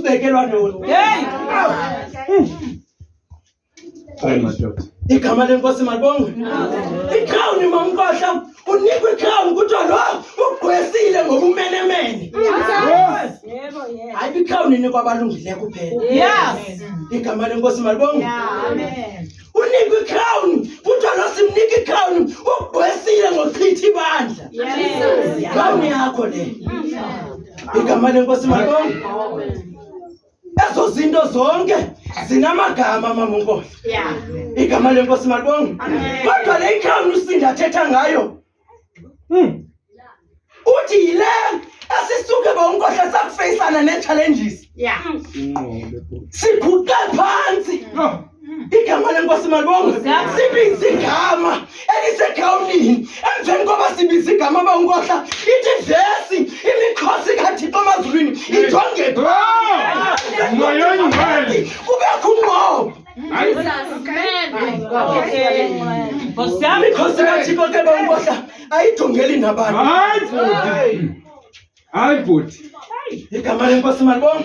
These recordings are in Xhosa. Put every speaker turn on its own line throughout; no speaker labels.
ubekelwa
ntoni? Hey! Hayi madoda. Igama lenkosi
malibongwe. Ikrown mamkhohla unikwa ikrown kuthiwa lo ugqwesile ngobumenemene. Yebo, yebo. Hayi ikrown inikwa abalungileyo kuphela. Yes. Igama lenkosi malibongwe. Amen. unikwe ikrawuni kuthiwa lo simnika ikrawuni ugqwesile ngochitha ibandla ikrawuni yakho le igama lenkosi makoni ezo zinto zonke zinamagama mamonkohla igama lenkosi malibonge kodwa le ikrawuni usinda athetha ngayo Mm. Uthi yile esisuke bonkohla sakufeyisana nee-challenges. Yeah. Siguqe phantsi. No. igama lenkosi malibongo sibiza igama elisegrawundini emveni koba sibiza igama bawunkohla ithi vesi imikhosi kathixo emazulwini ijonge phaa Moyoni wenu. kubekho unqobo mikhosi kachikoke bambodla ayidungeli nabantu
hayi bhuti igama lenkosi
mani bom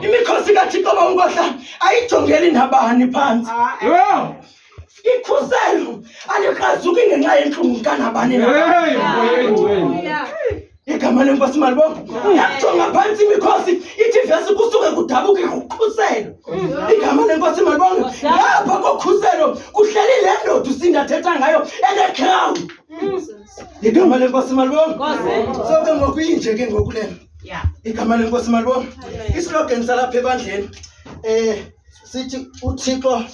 imikhosi kathixo bawunkohla ayijongeli nabani phantsi ikhuselo alikrazuki ngenxa yentlungu kanabani na igama lenkosi malibongo yajonga phantsi imikhosi ithi vesi kusuke kudabuke kukhuselo igama lenkosi malibongo lapha kokhuselo kuhleli le ndoda usindathetha ngayo enecrown igama lenkosi malibongo so ke ngoku inje ke ngoku lena igama lenkosi malibongo islogan salapha ebandleni um sithi uThixo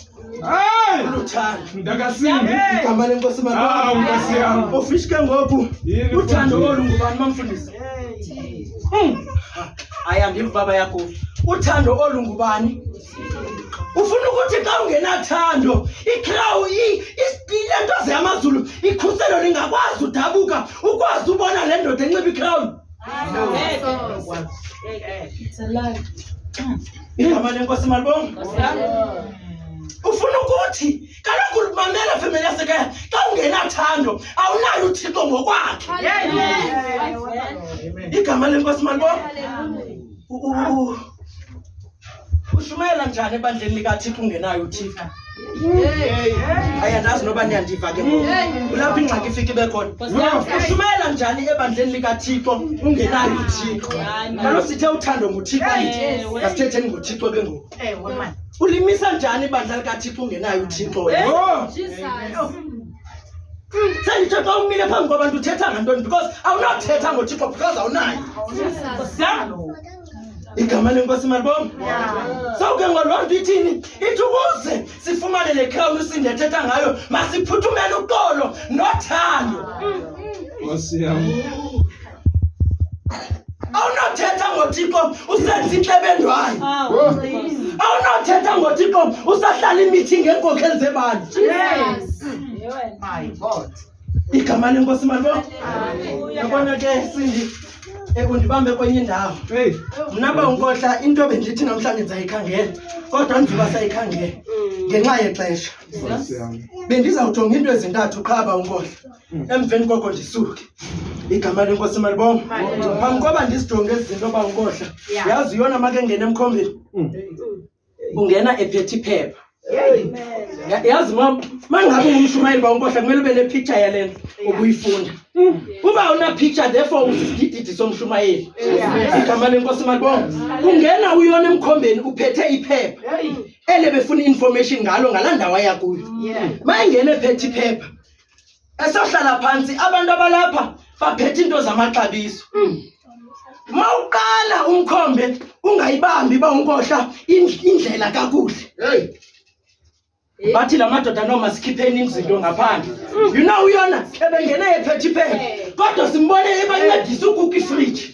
igama lenkosi ufishi
ke ngoku
uthando olu ngubani bamfundisi hmm. aya ndim baba yakho uthando olu ngubani ufuna ukuthi xa ungenathando ikrawu le ntoze yamazulu ikhuselo lingakwazi udabuka ukwazi ubona le ndoda enxiba ikrawuni igama lenkosi malibonga ufuna ukuthi kaloku mamela femeli yasekhaya xa ungenathando awunayo uthixo ngokwakhe igama lenkosi malibonga ushumayela njani ebandleni likathixo ungenayo uthixo ayandazi noba niyandiva ke kulapho ingxaki ifika ibe khona ushumayela njani ebandleni likathixo ungenayo uthixo kalo sithe uthando nguthixo asithetheni ngothixo ke ngoku ulimisa njani ibandla likathixo ungenayo uthixo senditsho xa umile phambi kwabantu uthetha ngantoni because awunothetha ngothixo because awunayo igama lenkosi malibom so ke ngoloo nto ithini ithi ukuze sifumane le khawuni usinda ethetha ngayo masiphuthumele uxolo nothando nkosi
yam awunothetha
ngothixo usenza intlebendwayo awunothetha ngothixo usahlala imithi ngeenkokheli zebandla igama lenkosi malibo yabona ke sindi ekundibambe kwenye indawo mna ba unkohla into bendithi namhlanje ndizayikhangela kodwa ndiba sayikhangela ngenxa yexesha bendizawujonga into ezintathu qha ba unkohla hmm. emveni koko ndisuke igama lenkosi malibonga phambi koba ndizijonge ezi zinto ba unkohla yazi yona makengena emkhombeni hmm. ungena ephethe iphepha yazi ma mangabe ungumshumayeli ba unkohla kumele ube nepicture yale nto ubuyifunda uba unapicture therefore usisidididi somshumayeli igama lenkosi malibonga ungena uyona emkhombeni uphethe iphepha ele befuna i-information ngalo ngala ndawo ayakuyo ma ingena ephethe iphepha esohlala phantsi abantu abalapha baphethe iinto zamaxabiso mm. ma uqala umkhombe ungayibambi uba unkohla indlela kakuhle bathi la madoda noma sikhipheni izinto ngaphandle mm. you know uyona ebengene ephethe iphepha kodwa simbone ebancedisa ukuka ifriji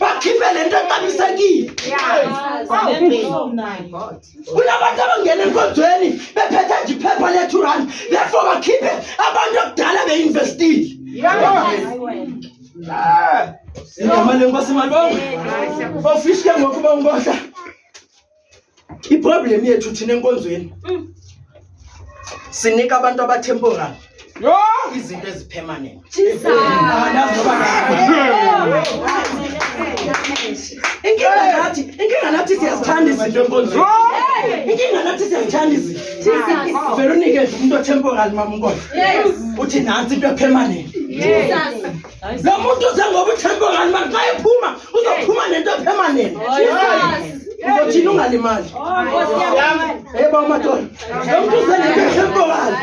bakhiphe le nto exabisekile kunabantu abangena enkonzweni bephethe nje iphepha le-two rand therefore bakhiphe abantu okudala beinvestile igama lenkosi malibongo ofishi ke ngokuba unkohla iproblem yethu thina enkonzweni mm. sinika abantu abatemporal yho izinto ezipermanent inkinga nathi inkinga nathi siyazithanda izinto enkonzweni inkinga nathi siyazithanda izinto veronika umntu otemporal mamnkola uthi nantsi into epermanent lo muntu uze ngoba uthembe ngani mara xa ephuma uzophuma nento epermanent uzothini ungalimali eba umadoda lo muntu uze nento epermanent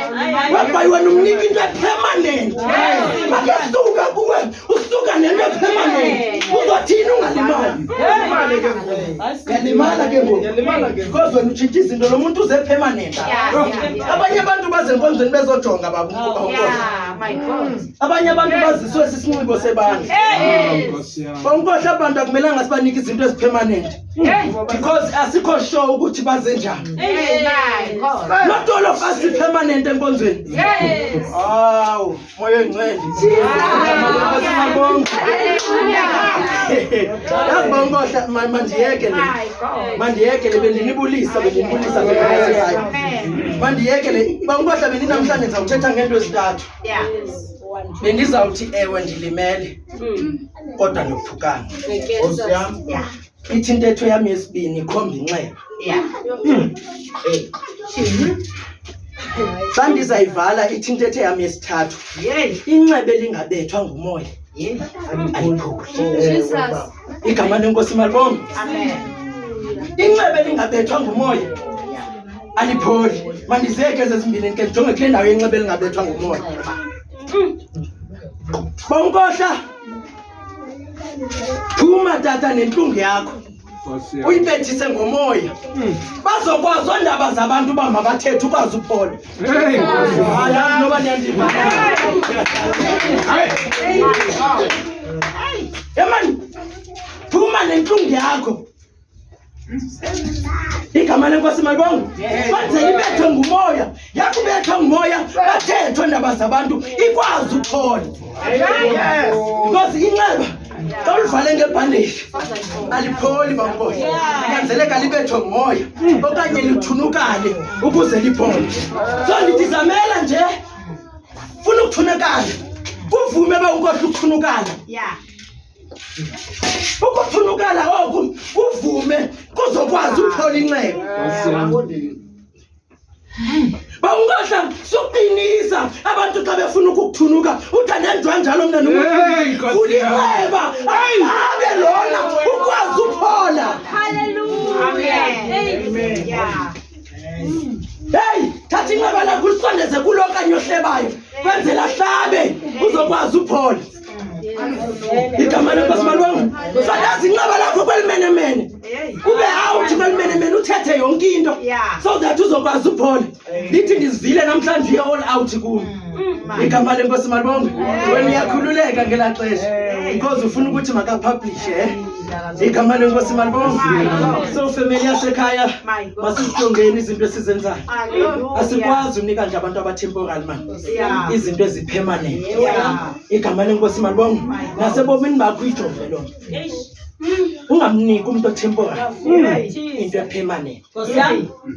webhayi wena umnika into epermanent makesuka kuwe usuka nento epermanent uzothini ungalimali yalimala ke ngoku because wena utshintsha izinto lo muntu uze epermanent abanye abantu bazenkonzweni bezojonga babunkokho abanye abantu baziswe sisinxibo sebandla bankohle abantu akumelanga sibanike izinto ezipermanent because asikho sure ukuthi baze njani not all of us ipermanent enkonzweni awu moya engcwele yazi bankohle mandiyeke le mandiyeke le bendinibulisa bendinibulisa bendinibulisa mandiyeke le bankohle bendinamhlanje ndizawuthetha ngeento ezintathu Yeah. Bendizawuthi ewe ndilimele Mm. kodwa ndophukana. I get Nkosi that. yam. Yeah. Ithi intetho yam yesibini ikhomba inxeba. Yeah. Hey. Xa ndizayivala ithi intetho yam yesithathu Yay. inxeba elingabethwa ngumoya Yay. aliphuki. Jesus. igama lenkosi malibongo inxebe lingabethwa ngumoya alipholi mandizeke ezezimbini ke ndijonge kule ndawo yenxebe lingabethwa ngumoya bonkohla phuma tata nentlungu yakho uyibethise ngomoya hmm. bazokwazi ondaba zabantu uba mabathethe ukwazi uphola Emani, phuma nentlungu yakho. Igama lenkosi malibongo. Manje ibethwe ngumoya, yakubethwa ngumoya, bathethwe ndaba zabantu ikwazi ukuthola. Because inxeba Xa ulivale ngebhandeji alipholi bamboy, kunyanzeleka libethwe ngumoya okanye lithunukale ukuze liphole. So ndithi zamela nje, funa ukuthunukala, kuvume uba unkohla ukuthunukala. Ukuthunukala oku kuvume kuzokwazi ukuphola inxeba. ba ungadla sokuqinisa abantu xa befuna ukukuthunuka uthi ndenjwa njalo mna nomulibeba abe lona ukwazi uphola
heyi
thatha inxeba lakho ulisondeze kulo okanye ohlebayo kwenzela hlabe uzokwazi uphola igama lenkosi malwanga fakazi inqaba lakho kwelimenemene ube awuthi kwelimenemene uthethe yonke into so that uzokwazi uphola lithi ndizivile namhlanje uye all out kulo mm. igama lenkosi malwanga wena uyakhululeka ngelaa xesha because ufuna ukuthi makapublishe eh? igama lenkosi malibonga so family yasekhaya masizijongeni izinto esizenzayo asikwazi unika nje abantu abatemporal mani izinto ezipermanent igama lenkosi malibongo nasebomini bakho ijonge loo nto ungamniki umntu othempora into epermanent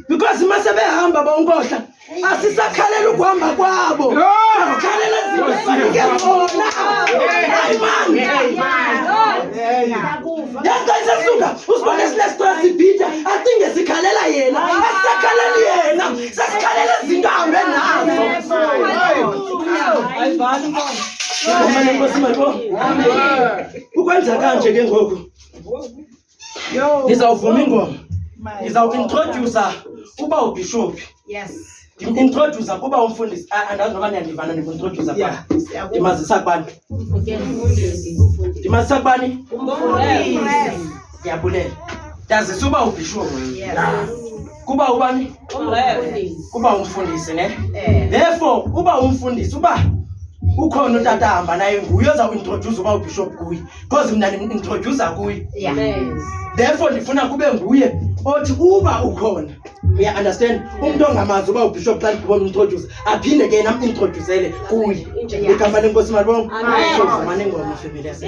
because uma sebehamba bonkohla asisakhalela ukuhamba kwabo akhalela zinto efanike zona ayimani yento isesuka usibone sinesitwa sibhida acinge sikhalela yena asisakhaleli yena Sezikhalela izinto ahambe nazo. Ayivani manje. Manje nkosi manje. Ukwenza kanje ke ngoku. Ngizawuvuma ingoma. Ngizawuintroduce uba ubishophi. Yes.
Ndimwintrodusa
kuba umfundisi andazi noba niyandivana ndimwintrodusa kuba ndimazisa kubani ndimazisa kubani ndiyabulela ndazisa uba ubhishuo kuba ubani kuba umfundisi ne eh. therefore uba umfundisi uba ukhona utata ahamba naye nguye oza kuintroduce uba ubishop kuye because mna ndimtrodusa kuye therefore ndifuna kube nguye othi uba ukhona uya understand umntu ongamazi uba ubishop xa ndibona umtroduce aphinde ke nam introducele kuye igama lenkosi malibongo mane ngona ifemeli yase